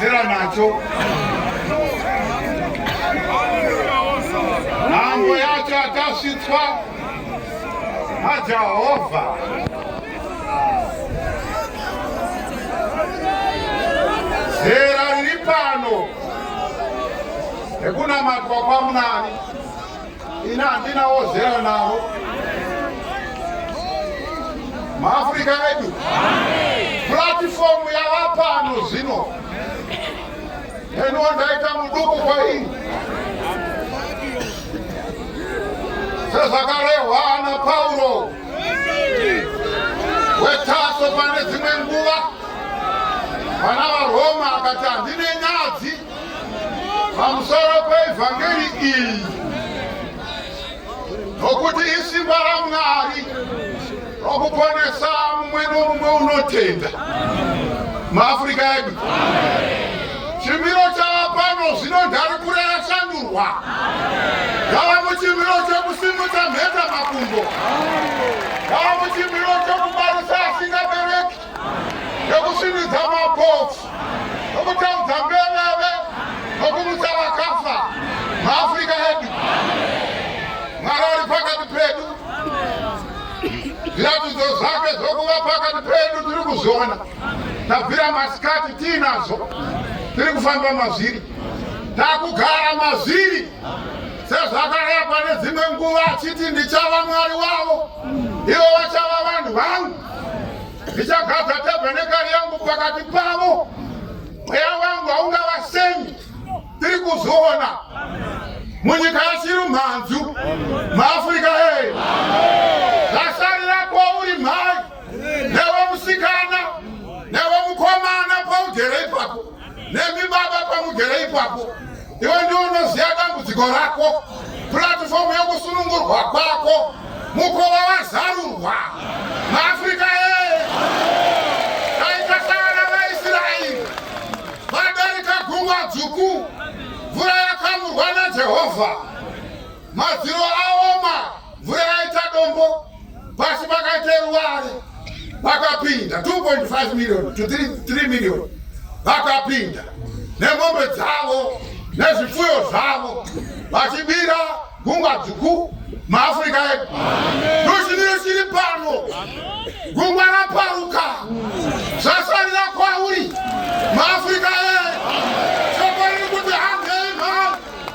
Zera nacho. Nhambo yacho atasvitswa naJehovha. Zera riri pano rekunamatwa kwaMunani. ini handina wozera navo maafrica edu platifomu yava pano zvino eniwo ndaita muduku kwaini sezvakarehwa ana pauro wetaso pane dzimwe nguva vana varoma akati handine nyadzi pamusoro peevhangeri iyi nokuti isimba ramwari rokuponesa mumwe nomumwe unotenda maafurika edu chimiro chaapano zvino ndari kure yashandurwa yava muchimiro chekusimudza mheta makumbo yava muchimiro chekubarisa asingabereki nokusvinudza mapofu nokutaudza mbeveve nokumutsa vakafa maafrica edu mwari ari pakati pedu zviratidzo zvake zvokuva pakati pedu tiri kuzviona tabvira masikati tiinazvo tiri kufamba mazviri takugara mazviri sezvakarepwa nedzimwe nguva achiti ndichava mwari wavo Ivo vachava vanhu vangu, ndichagadza tabhenekari yangu pakati pavo, mweya wangu haungavasemi. Tiri kuzviona munyika yachiri mhanzu muafrica ee zvasarira kwauri mhai newe musikana newe mukomana paugere ipapo Nemi baba pamugere ipapo, iwe ndiwe unoziva dambudziko rako, puratifomu yokusunungurwa kwako, mukova wazarurwa. MaAfrica ee, taitasaana vaIsraeri vadarika gungwa dzvuku, mvura yakamurwa naJehovha. Madziro aoma, mvura yaita dombo, pasi pakaita ruware, vakapinda 2.5 million to 3 million, vakapinda nemombe dzavo nezvipfuyo zvavo vachibira gungwa dzvuku maafrica edu ndochimiro chiri pano gungwa raparuka zvasarira kwauri maafrica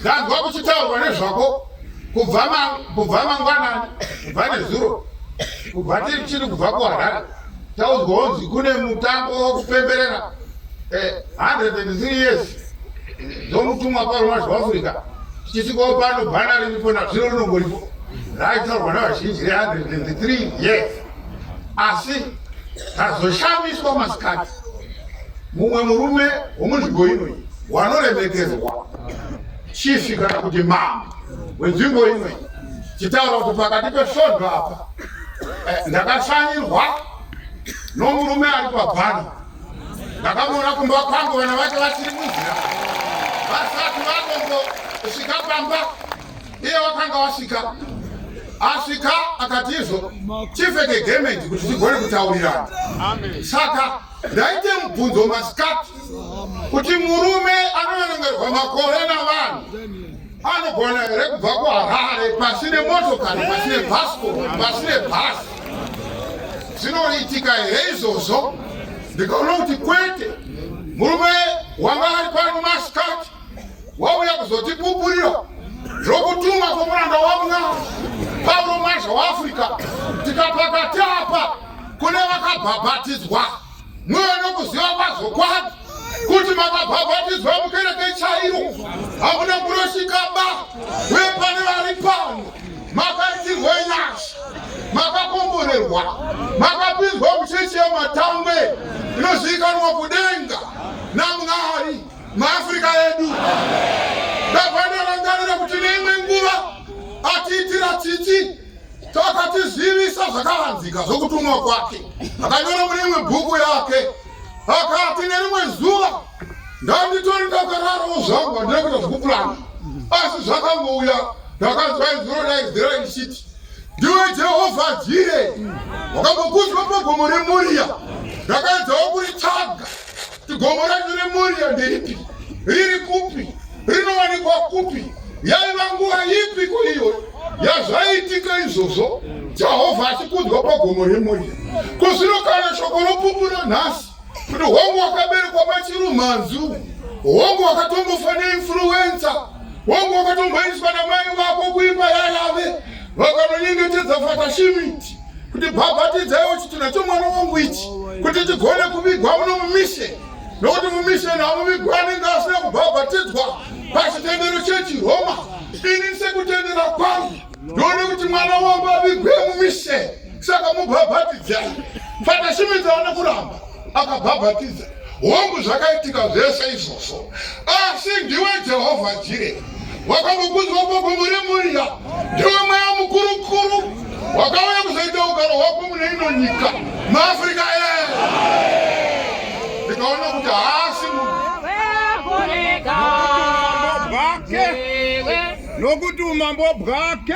ndanzwa kuchitaurwa nezvako kubva mangwanani kubva nezuro kubva tiri chiri kubva kuharare taudzwa wonzi kune mutambo wokupemberera 103 eh, years dzomutumwa paruma zveafrica tichitikawo pano bhana riripo nazvino rinongoripo raitaurwa navazhinji re103 years asi tazoshamiswa masikati mumwe murume womunzvimbo inoyi wanoremekerwa chifi kana kuti mama wenzvimbo imwe chitaura kuti pakati pesvondo apa eh, ndakashanyirwa nomurume ari pabhano ndakamuona kumba kwangu vana vake vasiri munzira vasati vakombo svika pamba iye wakanga wasvika asvika akatizvo chifeke gemendi kuti tigone kutaurirana saka Ndaite mubvunzo masikati kuti murume anoverengerwa makore navanhu anogona here kubva kuharare pasine motokari pasine bhasko pasine bhasi zvinoitika here izvozvo ndikaona kuti kwete murume wanga ari pano masikati wauya kuzotipupurira zvokutuma kwomuranda wamwari pauro mazha waafrica tikapakati apa kune vakabhabhatidzwa mweya nokuziva kwazvokwadi kuti makabhabhatidzwa mukereke chairo hakuna kunoshikaba uye pane vari pano makaitirwa nyasha makakomborerwa makapinzwa muchechi yematangwe inozivikanwa kudenga namwari maafrica edu ndavanorangarira kuti neimwe nguva atiitira tsitsi Takatizivisa zvakavanzika zvokutumwa kwake, akanyora mune imwe bhuku yake, akati nerimwe zuva ndanditori ndakararawo zvangu handina kuita zvokupurana, asi zvakangouya ndakanzwa izwi rodaidzira richiti ndiwe Jehovha Jire, wakambokudzwa pagomo reMoria, ndakaedzawo kuritsvaga Gomo racho remhuri yandiipi? Riri kupi? Rinowanikwa kupi? Yaiva nguva ipi kuiyo yazvaitika izvozvo? Jehovha achikudzwa pagomo remhuri. Kuzvino kana shoko ropupura nhasi kuti hongu wakaberekwa pachirumanzu, hongu wakatombofa neinfluenza, hongu wakatomboendeswa namai vako kuimba yayave vakanonyengetedza fatashimiti kuti bhabhatidzai uchiti nacho mwana wangu ichi kuti tigone kuvigwa muno mumishe nokuti mumishe namuvigwa anenge asina kubhabhatidzwa pachitendero chechiroma ini sekutendera kwangu ndione kuti mwana wangu avigwe mumishe saka mubhabhatidzai fatashimidza vane kuramba akabhabhatidza hongu zvakaitika zvese izvozvo asi ndiwe jehovha jire wakambokudzwa koko muri murya ndiwe mweya mukurukuru wakauya kuzoita ugaro hwako mune ino nyika maafrica ee ndikaona kuti haasi nokuti umambo bwake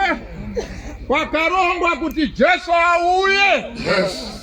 kwakarongwa kuti jesu auye yes.